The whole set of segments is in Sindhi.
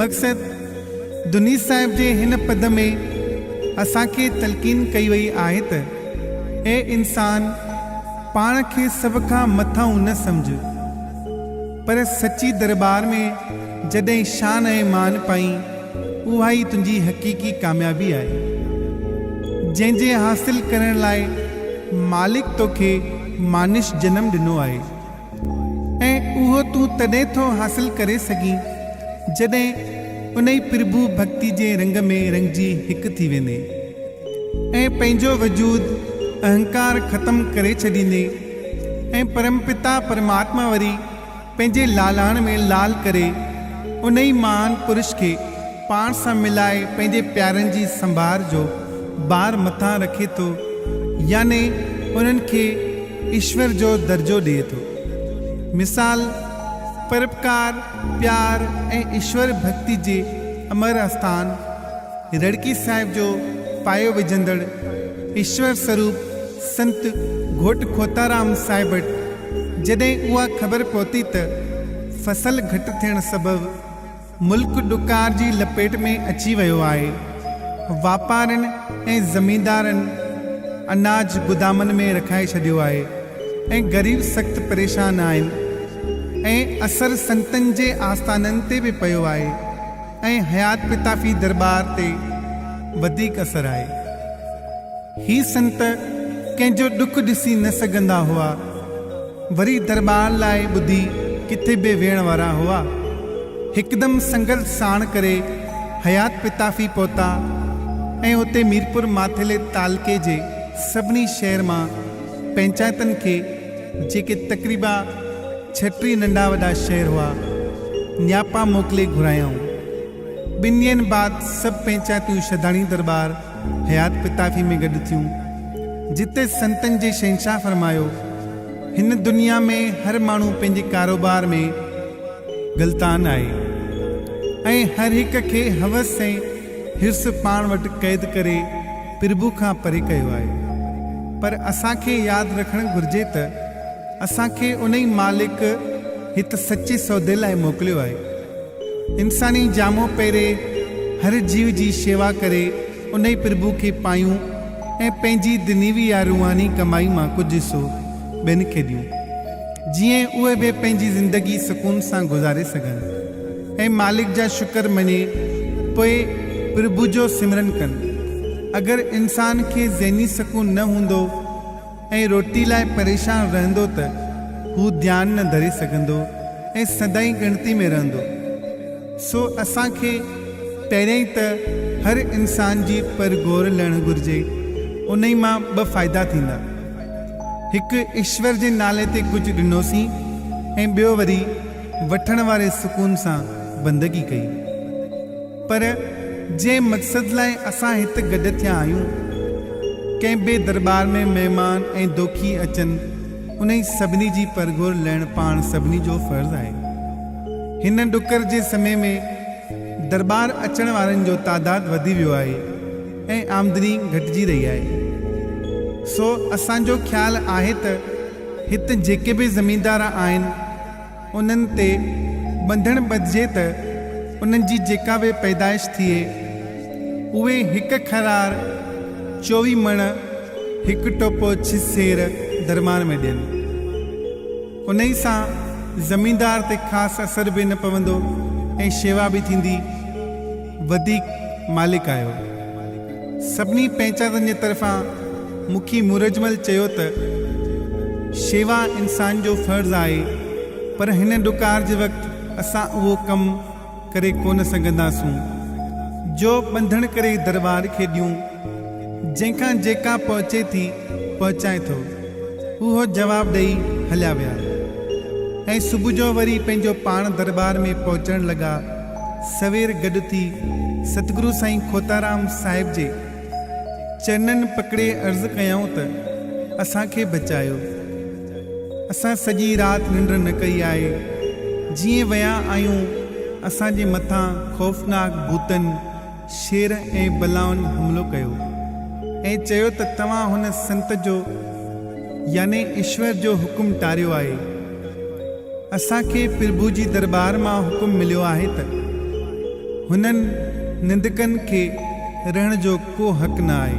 مقصد، دنيس صاحب جي هن پد ۾ اسان کي تلقين ڪئي وئي آهي ته، اي انسان! پاڻ کي سڀ کان مٿانهون نه سمجهه، پر سچي درٻار ۾ جڏهن شان ۽ مان پائين، اها ئي تنهنجي حقيقي ڪاميابي آهي، جنهن جي حاصل ڪرڻ لاء مالڪ توکي مانش جنم ڏنو آهي. ۽ اهو تون تڏهن ٿو حاصل ڪري سگهين جڏهن انهي پرڀو ڀڪتي جي رنگ ۾ رنگجي هڪ ٿي ويندين ۽ پنهنجو وجود اهنڪار ختم ڪري ڇڏيندين ۽ پرمپتا پرماتما وري پنهنجي لالاڻ ۾ لال ڪري انهي مهان پرش کي پاڻ سان ملائي پنهنجي پيارن جي سنڀار جو بار مٿان رکي ٿو يعني انهن کي ايشور جو درجو ڏئي ٿو. مثال، پروپڪار، پيار ۽ ايشور ڀڳتي جي امر آستان رڙڪي صاحب جو پايو وجهندڙ ايشور سروپ سنت گهوٽ کوتارام صاحب وٽ جڏهن اها خبر پهتي ته فصل گهٽ ٿيڻ سبب ملڪ ڏڪار جي لپيٽ ۾ اچي ويو آهي، واپارين ۽ زميندارن اناج گدامن ۾ رکائي ڇڏيو آهي ۽ غريب سخت پريشان آهن ۽ اثر سنتن جي آستانن تي به پيو آهي ۽ حيات پتافي درٻار تي وڌيڪ اثر آهي. هي سنت ڪنهن جو ڏک ڏسي نه سگهندا هئا. وري درٻار لاء ٻڌي ڪٿي به ويهڻ وارا هئا. هڪدم سنگل ساڻ ڪري حيات پتافي پهتا ۽ اتي ميرپور ماٿيلي تعلقي جي سڀني شهر مان پئنچائتن کي جيڪي تقريبا ڇٽيهه ننڍا وڏا شهر هئا، نياپا موڪلي گهرايائون. ٻن ڏينهن بعد سڀ پئنچائتون شهداڻي درٻار. حيات پتافي ۾ گڏ ٿيون، جتي سنتن جي شهنشاهه فرمايو، هن دنيا ۾ هر ماڻهو پنهنجي ڪاروبار ۾ غلطان آهي ۽ هر هڪ کي حوس ۽ حرص پاڻ وٽ قيد ڪري پرڀو کان پري ڪيو آهي، پر اسان کي ياد رکڻ گهرجي ته اسان کي انهي مالڪ هت سچي سودي لاء موڪليو آهي. انساني جامو پهري هر جيو جي شيوا ڪري انهي پرڀو کي پايون ۽ پنهنجي دنيوي يا روحاني ڪمائي مان ڪجهه حصو ٻين کي ڏيون جيئن اهي به پنهنجي زندگي سڪون سان گذاري سگهن ۽ مالڪ جا شڪر مڃي پوء پرڀو جو سمرن ڪن اگر انسان کي ذهني سڪون نه هوندو ۽ روٽي لاء پريشان رهندو ته هو ڌيان نه ڌري سگهندو ۽ سدائين ڳڻتي ۾ رهندو. سو اسان کي پهريائين ته هر انسان جي پر گور لهڻ گهرجي، انهي مان ٻه فائدا ٿيندا. هڪ ايشور جي نالي تي ڪجهه ڏنوسين ۽ ٻيو وري وٺڻ واري سڪون سان بندگي ڪئي. پر جنهن مقصد لاء اسان هت گڏ ٿيا آهيون، ڪنهن به درٻار ۾ مهمان ۽ دوکي اچن، انهي سڀني جي پرگهور لهڻ پاڻ سڀني جو فرض آهي. هن ڏڪر جي سمي ۾ درٻار اچڻ وارن جو تعداد وڌي ويو آهي ۽ آمدني گهٽجي رهي آهي. سو اسان جو خيال آهي ته هت جيڪي به زميندار آهن، انهن تي ٻنڌڻ ٻڌجي ته انهن جي جيڪا به پيدائش ٿئي، اهي هڪ خرار، چوويهه مڻ، هڪ ٽوپو ڇهه سير درمان ۾ ڏين. انهيء سان زميندار تي خاص اثر به نه پوندو ۽ شيوا به ٿيندي. وڌيڪ مالڪ آهيو. سڀني پنهچادن جي طرفان مکي مورجمل چيو ته شيوا انسان جو فرض آهي پر هن ڏڪار جي وقت اسان اهو ڪم ڪري ڪونه سگهنداسون جو ٻنڌڻ ڪري درٻار کي ڏيون جنهن کان جيڪا پهچي ٿي پهچائي ٿو اهو جواب ڏئي هليا ويا ۽ صبح جو وري پنهنجو پاڻ درٻار ۾ پهچڻ لڳا. سوير گڏ ٿي ستگرو سائين کوتارام صاحب جي چرنن پڪڙي عرض ڪيائون ته اسان کي بچايو اسان سڄي رات ننڊ نه ڪئي آهي جيئن ويا آهيون اسان جي مٿان خوفناڪ ڀوتن شير ۽ بلائن حملو ڪيو ۽ چيو ته توهان هن سنت جو يعني ايشور جو حڪم ٽاريو آهي. اسان کي پرڀو جي درٻار مان حڪم مليو آهي ته هنن نندڪن کي رهڻ جو ڪو حق نه آهي.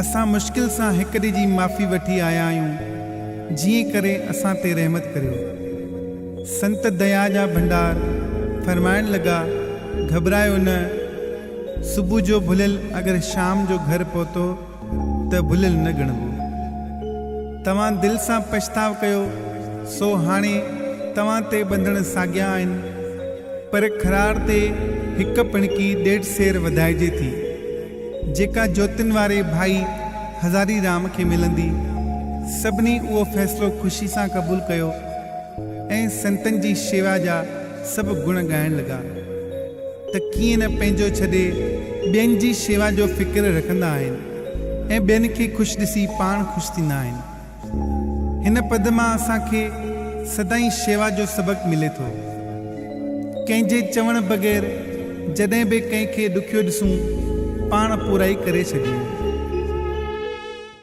اسان مشڪل سان هڪ ڏي جي معافي وٺي آيا آهيون جيئن ڪري اسان تي رحمت ڪريو. سنت ديا جا ڀنڊار فرمائڻ لڳا، گهٻرايو نه، صبح جو ڀليل اگر شام جو گهر پهتو ته ڀليل نه ڳڻبو. توهان دل سان پڇتاء ڪيو، سو هاڻي توهان تي ٻنڌڻ ساڳيا آهن. پر کراڙ تي هڪ پڻڪي ڏيڍ سير وڌائجي ٿي، جيڪا جوتين واري ڀائي هزاري رام کي ملندي. سڀني اهو فيصلو خوشي سان قبول ڪيو. ۽ سنتن جي شيوا جا سڀ گڻ ڳائڻ لڳا ته ڪيئن نه پنهنجو ڇڏي ٻين جي شيوا جو فڪر رکندا آهن ۽ ٻين کي خوش ڏسي پاڻ خوش ٿيندا آهن. هن پد مان اسان کي سدائين شيوا جو سبق ملي ٿو. ڪنهن جي چوڻ بغير جڏهن به ڪنهن کي ڏکيو ڏسون پاڻ پورائي ڪري ڇڏيون.